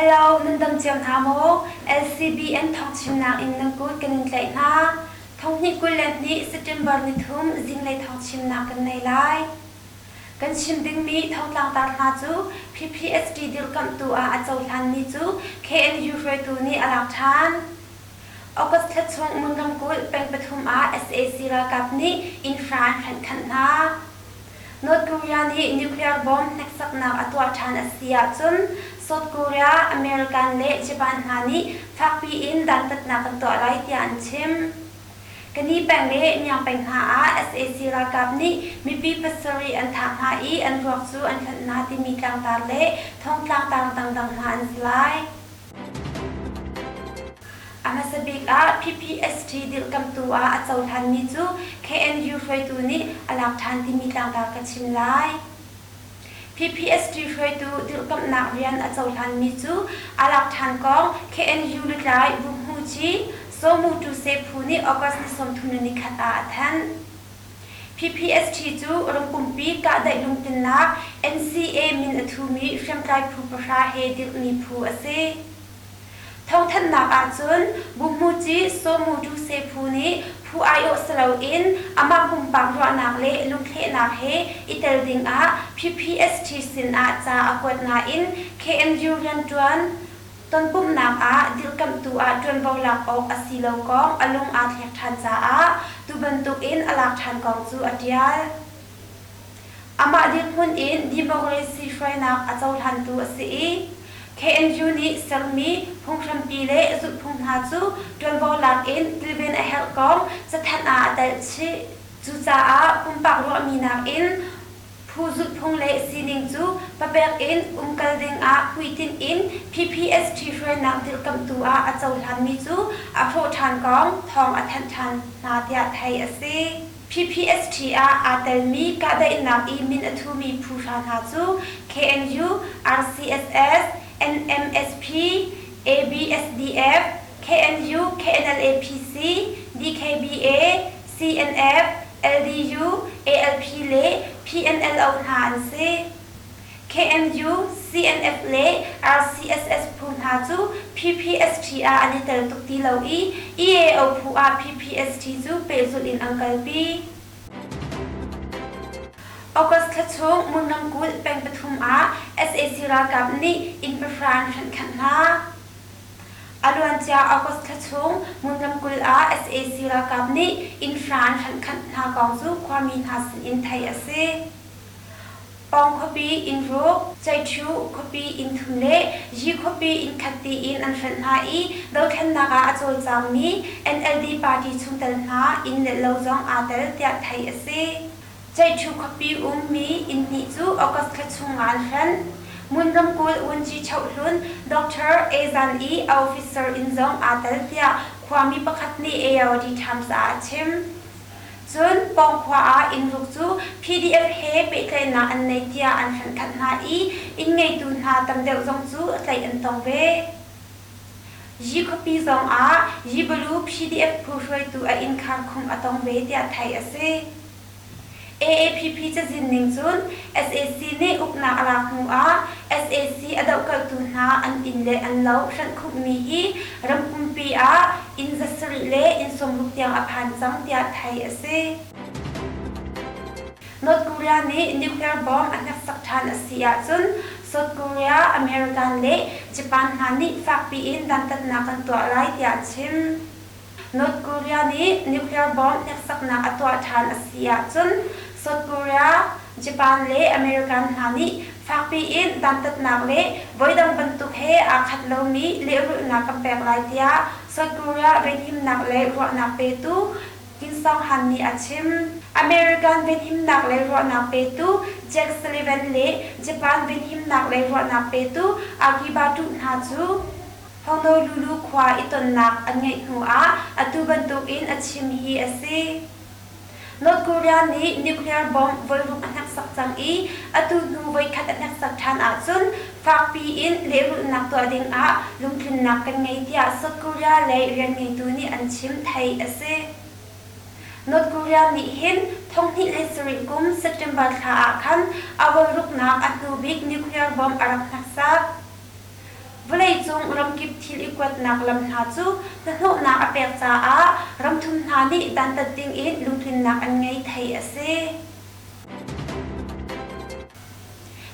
Hello, nan dam ciam hna maw? LCBN thawngchimnak in nan kut kan in tlaih hna. Thonghnih kul le hnih September ni thum zinglei thawngchimnak kan nei lai. Kan chim dingmi thongtlangtar hna cu PPST dirkamhtu ah a cohlanmi cu KNU hruaitu nih a lak ṭhan. August thla chung Ngun ramkulh peng pathum ah sac ralkap nih infra an hrenh khanh hna. North Korea nih nuclear bomb hneksaknak a tuah ṭhan a si ahcun South Korea, American le Japan hna nih fakpi in dantatnak kan tuah lai tiah an chim. Kani peng le Myang peng hna ah sac ralkap nih mipi pasarih an thah hna i an ruak cu an hlanh hna timi tlangtar le thong tlangtar dangdang hna an si lai. A hmasa bik ah PPST dirhkamtu ah a cohlanmi cu KNU hruaitu nih a lak ṭhan timi tlangtar ka chim lai. PPST hruaitu dirhkamhnak rian a cohlanmi cu a lak ṭhan kong KNU lutlai Vuk Hmu Ci, Somu Tu Se Phu nih August ni sawmthum le ni khat ah a thanh. Pphst cu rak pumpi kahdaih lungtlinnak NCA min a thumi hriamtlai phu pahra he dirhmi phu a si. Thawngthanhnak ahcun Bummuci Somu Duse phu nih phu aiawh si loin amah pumpak ruahnak le lungthlehnak he i tel dingah Pphst sinah ca a kuat nain KNU rianṭuan Tonpumhnak ah dirhkamhtu ah ṭuanvo lak awk a si lo kong a lung aa thlek ṭhan caah tu bantukin a lak ṭhan kong cu a ṭial. Amah dirhmun in democracy hruainak a cohlantu a si i KNU nih sermi phunghrampi le zulhphung hna cu ṭuanvo lak in kilven a herh kong cathanh ah a telh chih. Cucaah pumpak ruahmi nakin Phu zulhphung le sining cu papek in umkal dingah hmuitinh in PPST hruainak dirkamhtu ah a cohlanmi cu a hrawh ṭhan kong thawng a thanh ṭhan hna tiah theih a si. PPST ah aa telmi kahdaihnak i min a thumi phuhra hna cu KNU, RCSS, NMSP, ABSDF, KNU, KNLA-PC, DKBA, CNF, LDU, ALP le PNLO hna an si. KMU, CNF le RCSS phu hna cu PPST ah an i tel tuk ti lo i EAO phu ah PPST cu pehzulh in an kalpi. August thla chung Mun ramkulh peng pathum ah sac ralkap nih inn pahra an hrenh khanh hna. A luancia August thla chung Hmunlam kul ah sac ralkap nih innhra an hlanh khanh hna kong cu khuami hna sinin theih a si. Pawng khuapi inn ruk, ceihṭhu khuapi inn thum le yi khuapi inn khat tiin an hranh hna i dothlennak ah a cawlcangmi NLD party chungtel hna inn le lo zong aa tel tiah theih a si. Ceihṭhu khuapi ummi innhnih cu August thla chung ah an hlen. Mun ramkulh vunci chohlun Doctor A Zan i a officer inn zong aa tel tiah khuami pakhat nih ARD Times ah a chim. Cun pawngkhua ah inn ruk cu PDF he pehtlaihnak an nei tiah an hlenhkhanh hna i inn ngeitu hna tam deuh zong cu tlaih an tong ve. Yi khuapi zong ah Yi Balu PDF phu hruaitu a inn khar khung a tong ve tiah theih a si. AAPP cazin ning cun sac nih uknak a lak hnuah sac a dohkalhtu hna an inn le an lo hranhkhumhmi hi ram pumpi ah inn za sarih le inn sawmruk tiang a phan cang tiah theih a si. North Korea nih nuclear bomb a hneksak ṭhan a si ahcun South Korea, American le Japan hna nih fakpi in dantatnak an tuah lai tiah a chim. North Korea nih nuclear bomb hneksaknak a tuah ṭhan a si ahcun South Korea, Japan le American hna nih fakpi in dantatnak le voidang bantuk he aa khat lomi lehrulhnak kan pek lai tiah South Korea venhimnak le ruahnak petu Kim Song-han nih a chim. American venhimnak le ruahnak petu Jack Sullivan le Japan venhimnak le ruahnak petu Akiba Tuh hna cu, Honolulu khua i tonnak an ngeih hnuah atu bantukin a chim hi a si. North Korea nih nuclear bomb volruk a hneksak cang i atu hnu voikhat a hneksak ṭhan ahcun fakpi in lehrulhnak tuah dingah lungtlinnak kan ngei tiah South Korea lei rianngeitu nih an chim, theih a si. North Korea nih hin thonghnih le sarih kum September thla ah khan a volruknak a hnubik nuclear bomb a rak hneksak. Vawleicung ramkip thil i kuatnak lam hna cu hnahnawhnak a pek caah ramthum hna nih dantat dingin lungtlinnak an ngei thei a si.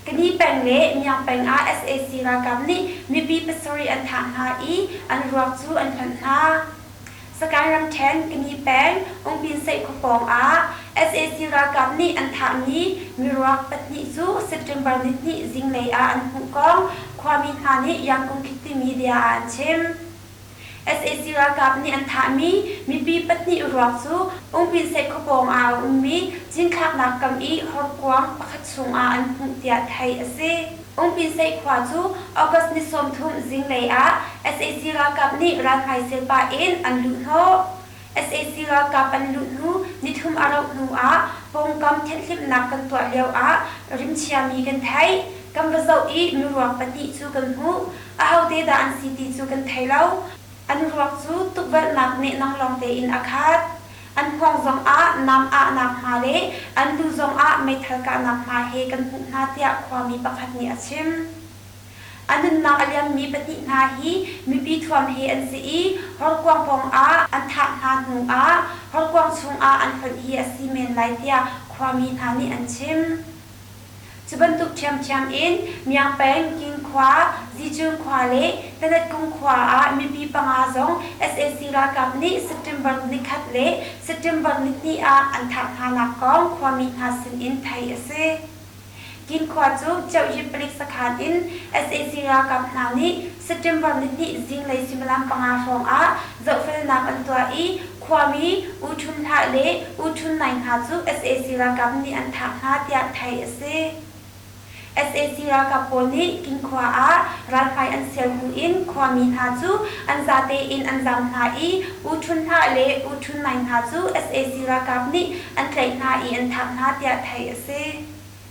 Kani peng le Niang peng ah sac ralkap nih mipi pasarih an thah hna i an ruak cu an hlawnh hna. Sagaing ramṭhen Kani peng Ungpinseih khua pawngah sac ralkap nih an thahmi miruak pahnih cu September nihnih zinglei ah an hmuh kong khuami hna nih Yangkung Khit timi bia ah an chim. sac ralkap nih an thahmi mipi pahnih ruak cu Ungpinseih khua pawngah a ummi cinthlaknak kam i horkuang pakhat chungah an hmuh tiah theih a si. Umpinseih khua cu August ni sawmthum zinglei ah sac ralkap nih ralhmai sel pah in an luhhnawh. Sac ralkap an luh hnu nithum a rauh hnu ah pawngkam thenhhlimhnak kan tuah lio ah rimchia mi kan theih. Kan va zoh i miruak pahnih cu kan hmuh. Ahote dah an si ti cu kan thei lo. An ruak cu tukvelhnak nehnang lawng tein a khat. An kuang zongah nam ahnak hna le an lu zongah meithal kahnak hna he kan hmuh hna tiah khuami pakhat nih a chim. A nunnak a liammi pahnih hna hi mipi thuam he an si i horkuang pawngah an thah hna hnu ah horkuang chungah an hlonh hi a si men lai tiah khuami hna nih an chim. Cu bantuk ṭhiamṭhiam in Myangpeng, Kinkhua, Zichun khua le Tanetkung khua ah mipi panga zong sac ralkap nih September kul ni khat le September ni hnih ah an thah hnanak kong khuami hna sinin theih a si. Kinkhua cu Ceuyi palik sakhan in sac ralkap hna nih September ni hnih zinglei suimilam panga hrawng ah zohfelnak an tuah i Khuami U Ṭhun Hlah le U Ṭhun Nai hna cu sac ralkap nih an thah hna tiah theih a si. Sac ralkap pawl nih Kinkhua ah ralhrai an sial hnu in khuami hna cu an zate in an zam hna i U Ṭhun Hlah le U Ṭhun Nai hna cu sac ralkap nih an tlaih hna i an thah hna tiah theih a si.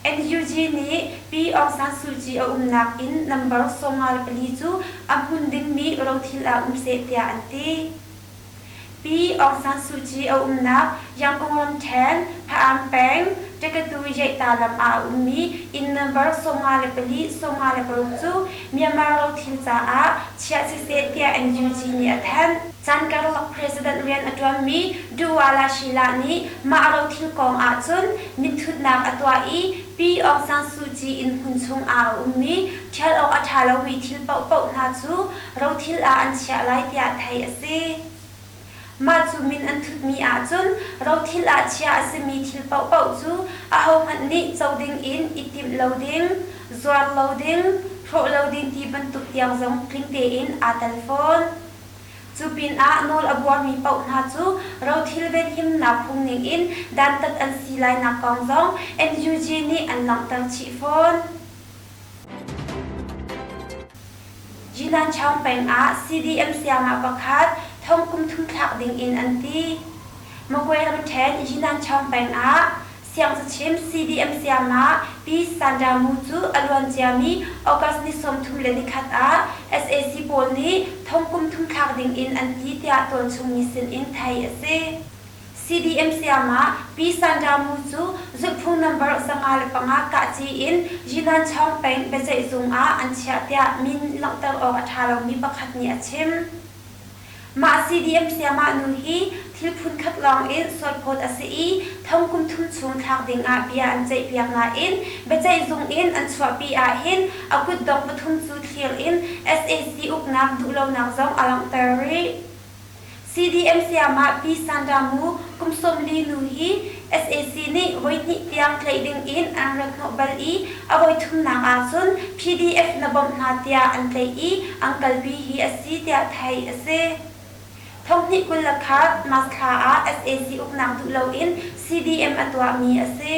NUG nih Pi Aung San Suu Kyi a umnak in number sawmnga le pali cu a hmun dingmi rothil ah um seh tiah an ti. Pi Aung San Suu Kyi a umnak Yangon ramṭhen Phaam peng Takatu Yeihta lam ah a ummi inn number sawmnga le pali sawmnga le paruk cu Myanmar rothil caah chiah siseh tiah NUG nih a thanh. Caan karlak president rian a ṭuanmi Duwala Shila nih mah rothil kong ahcun mitthutnak a tuah i Pi Aung San Suu Kyi inn hmun chung ah a ummi ṭhial awk a ṭha lomi thil paohpaoh hna cu rothil ah an chiah lai tiah theih a si. Mah cu min an thutmi ahcun rothil ah chiah a simi thil paohpaoh cu ahohmanh nih co ding in i timh lo ding, zuar lo ding, hrawh lo ding ti bantuk tiang zong tling tein aa tel fawn. Cu pinah nawl a buarmi paoh hna cu rothil venhimnak phung ningin dantat an si lainak kong zong NUG nih an langhter chih fawn. Jinan Chaung peng ah CDM siangah pakhat thong kum thum thlak dingin an ti. Magway ramṭhen Jinan Chaung peng ah Siangcachim CDM siangah Pi Sandra Mu cu a luanciami August ni sawmthum le nikhat ah sac pawl nih thongkum thum thlak dingin an ti tiah tualchungmi sinin theih a si. CDM siangah Pi Sandra Mu cu zulhphung nambar zanga le panga kahci in Yinanchawng peng biaceihzung ah an chiah tiah min langhter awk a ṭha lomi pakhat nih a chim. Mah CDM sayamah nu hi thil phunkhat lawngin sualphawt a si i thongkum thum chung thlak dingah bia an ceihpiak nain biaceihzung in an chuahpi ahhin a kutdong pathum cu thlir in sac uknak duhlonak zong a langhter rih. CDM sayamah Pi Sandamu kum sawm li nu hi sac nih voihnih tiang tlaih dingin an rak hnawh bal i a voithumnak ahcun PDF na bawmh hna tiah an tlaih i an kalpi hi a si tiah theih a si. Thonghnih kul le khat Masthla ah sac uknak duh loin CDM a tuahmi a si.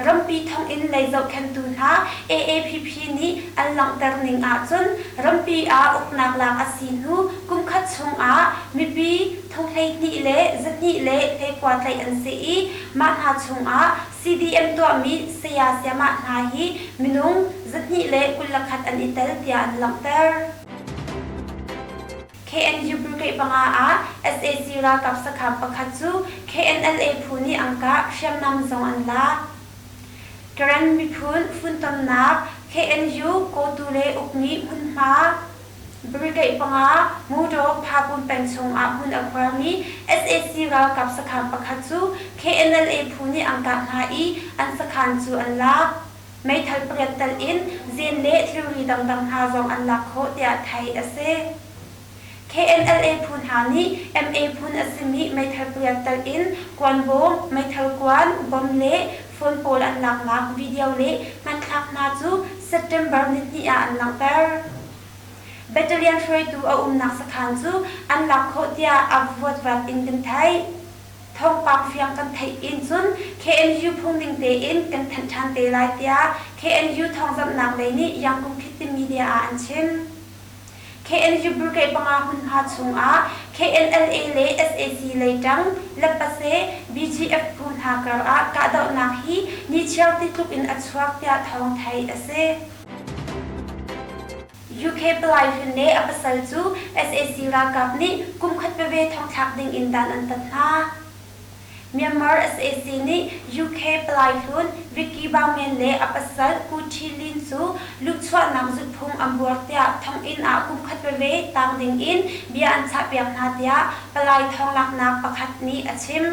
Rampi thonginn lei zohkhenhtu hna AAPP nih an langhter ning ahcun rampi ah uknak lak a si hnu kumkhat chung ah mipi thong hleihnih le zahnih le hleikua tlaih an si i mah hna chungah CDM tuahmi saya siamah hna hi minung zahnih le kul le khat an i tel tiah an langhter. KNU brigade panga ah SAC ralkap sakhap pakhat cu KNLA phu nih angka hriamnam zong an la. Karen miphun funtomnak KNU Koture ukni hmunhma Brigade panga motor Phakung peng chung ah hmun a khuarmi sac ralkap sakhaan pakhat cu KNLA phu nih an kah hna i an sakhaan cu an lak. Meithal pariat telh in zeen le thilri dangdang hna zong an lak khawh tiah theih a si. KNLA phu hna nih MA phun a simi meithal pariat telh in kuanvawng, meithal kuan, bomb le Hlawn pawl an laknak video nih hmanthlaknak cu September nihnih ah an langhter. Battalion hruaitu a umnak sakhan cu an lak khawh tiah a vuatvat in kan theih. Thawngpang fiang kan theih in cun KNU phungning tein kan thanh ṭhan te lai tiah KNU thawngzamhnak lei nih Yangon Khit ti media ah an chim. KNU Brigade panga hmun hna chungah KNLA le sac lei ṭang Lepase BGF phu hna karah kahdohnak hi nichiar ti tluk in a chuak tiah thawng theih a si. UK Palai Hlun le a pasal cu sac ralkap nih kumkhat veve thongthlak ding in dan an tat hna. Myanmar sac nih UK palai hlun Vicky Baumen le a pasal Ku Thi Lin cu luhchuahnak zulhphung an buar tiah thonginn ah kumkhat veve tang dingin bia an chahpiak hna tiah palai thawnglaaknak pakhat nih a chim.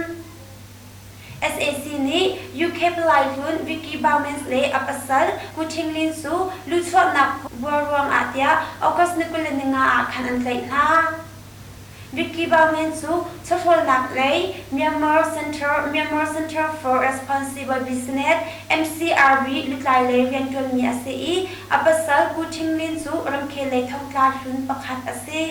sac nih UK palai hlun Vicky Baumen le a pasal Ku Thing Lin cu luhchuahnak buar ruangah tiah August ni kul le ni nga ah khan an tlaih hna. Vicky Baomin cu chawhrawlnak lei Myanmar Center Myanmar Center for Responsible Business, MCRB, lutlai lei rianṭuanmi a si i a pasal Pu Htim Min cu ramkhellei thongtla hlun pakhat a si.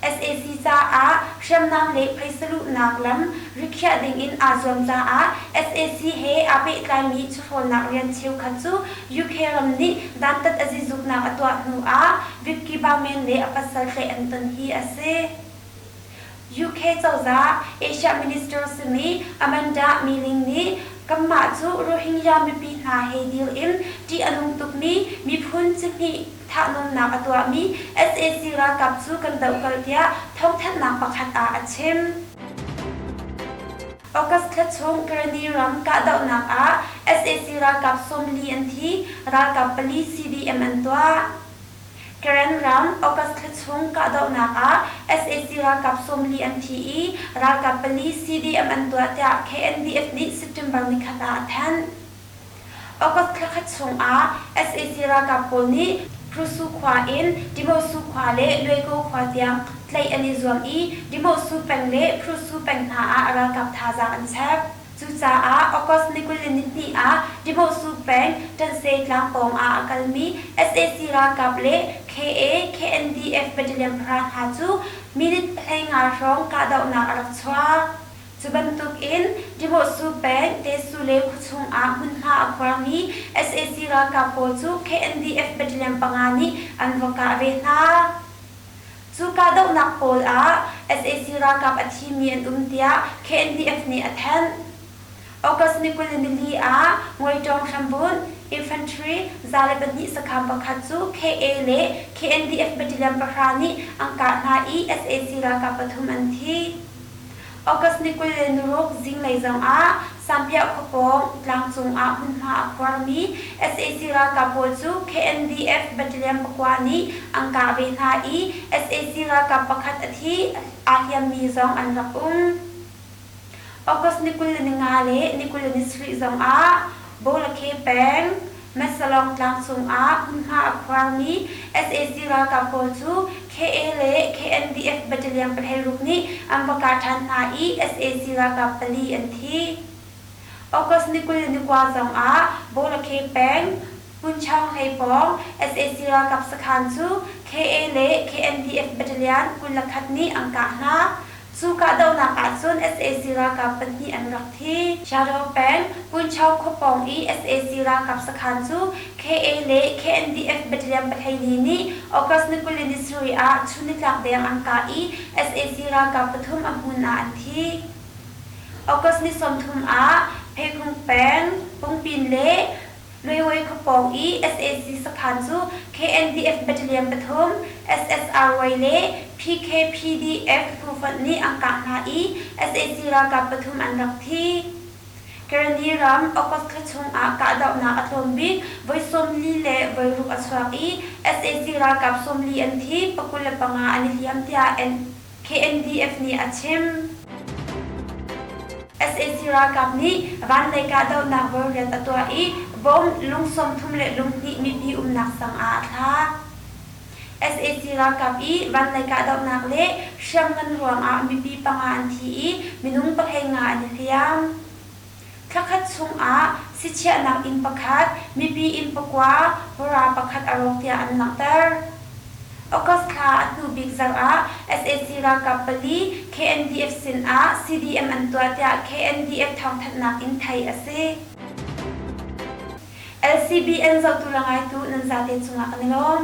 sac caah hriamnam le phaisa luhnak lam rikhiah dingin aa zuam caah sac he aa pehtlaimi chawhrawlnak rian cheukhat cu UK ram nih dantat a zizuknak a tuah hnu ah Vipki Baumen le a pasal tlaih an ton hi a si. UK cozah Asia minister simi Amanda Milling nih kanmah cu Rohingya mipi hna he dil in ṭih a nung tukmi miphun cihnih thahnawnnak a tuahmi sac ralkap cu kan dohkalh tiah thawngthanhnak pakhat ah a chim. August thla chung Karani ram kahdohnak ah sac ralkap sawmli an thi, ralkap pali CDM an tuah. Karen ram August thla chung kahdohnak ah sac ralkap sawmli an thi i ralkap pali CDM an tuah tiah KNDF nih September nikhat ah a thanh. August thla khat chungah sac ralkap pawl nih Hrusu khua in Dimawhsu khua le Luaiko khua tiang tlaih an i zuam i Dimawhsu peng le Hrusu peng hna ah ralkap thazaang an chep. Cucaah August ni kul le nihnih ah Dimawhsu peng Ṭanse tlang pawng ah a kalmi sac ralkap le KA, KNDF battalion para hna cu minute hleinga hrawng kahdohnak a rak chuak. Cu bantukin Demohsu peng Tesu le khuachung ah hmunhma a khuarmi sac ralkap pawl cu KNDF battalion panga nih an va kah ve hna. Cu kahdohnak pawl ah sac ralkap a thimi an um tiah KNDF nih a thanh. August ni kul le nili ah Ngawitawng hrambunh, infantry, za le pahnih sakham pakhat cu KA le KNDF battalion pahra nih an kah hna i sac ralkap pathum an thi. August ni kul le nuruk zinglei zongah Sampiah khuapawng tlangcung ah hmunhma a khuarmi sac ralkap pawl cu KNDF battalion pakua nih an kah ve hna i sac ralkap pakhat a thi, aa hliammi zong an rak um. August ni kul le ni nga le ni kul le ni sarih zongah Bawlakhe peng, Metsalong tlang chungah hmunhma a khuarmi sac ralkap pawl cu KA le KNDF battalion pathei ruk nih an va kah ṭhan hna i sac ralkap pali an thi. August ni kul ni kua zongah Bawlakhe peng, Hmunchang hlei pawng sac ralkap sakhan cu KA le KNDF battalion kul le khat nih an kah hna. Cu kahdohnak ahcun sac ralkap pahnih an rak thi. Shadow peng, Puncho khua pawng i sac ralkap sakhan cu KA le KNDF battalion pahleini nih August ni kuli nisarih ah chunnitlak deng an kah i sac ralkap pathum a hmun ah an thi. August ni sawmthum ah Pheikhung peng, Pungpin le Railway thawkpawng i sac saphan cu KNDF battalion pathum, SSRY le PKPDF tufonh nih an kah hna i sac ralkap pathum an rak thi. Karani ram August thla chung ah kahdohnak a tlawm bik, voi sawmli le voi ruk a chuak i sac ralkap sawmli an thi, pakul le panga an i hliam tiah KNDF nih a chim. sac ralkap nih vanlei kahdohnak rualrian a tuah i bomb lung sawmthum le lunghnih mipi umnak sang ah a thla. sac ralkap i vanlei kahdohnak le hriamngan ruangah mipi panga an thi i minung pahlei nga an i hliam. Thla khat chungah sichiahnak inn pakhat, mipi inn pakua, pura pakhat a rawk tiah an langhter. August thla a hnu bik zarah sac ralkap pali KNDF sinah CDM an tuah tiah KNDF thawngthanhnak in theih a si. LCBN zohtu le ngaitu nan zate cungah kan i lawm.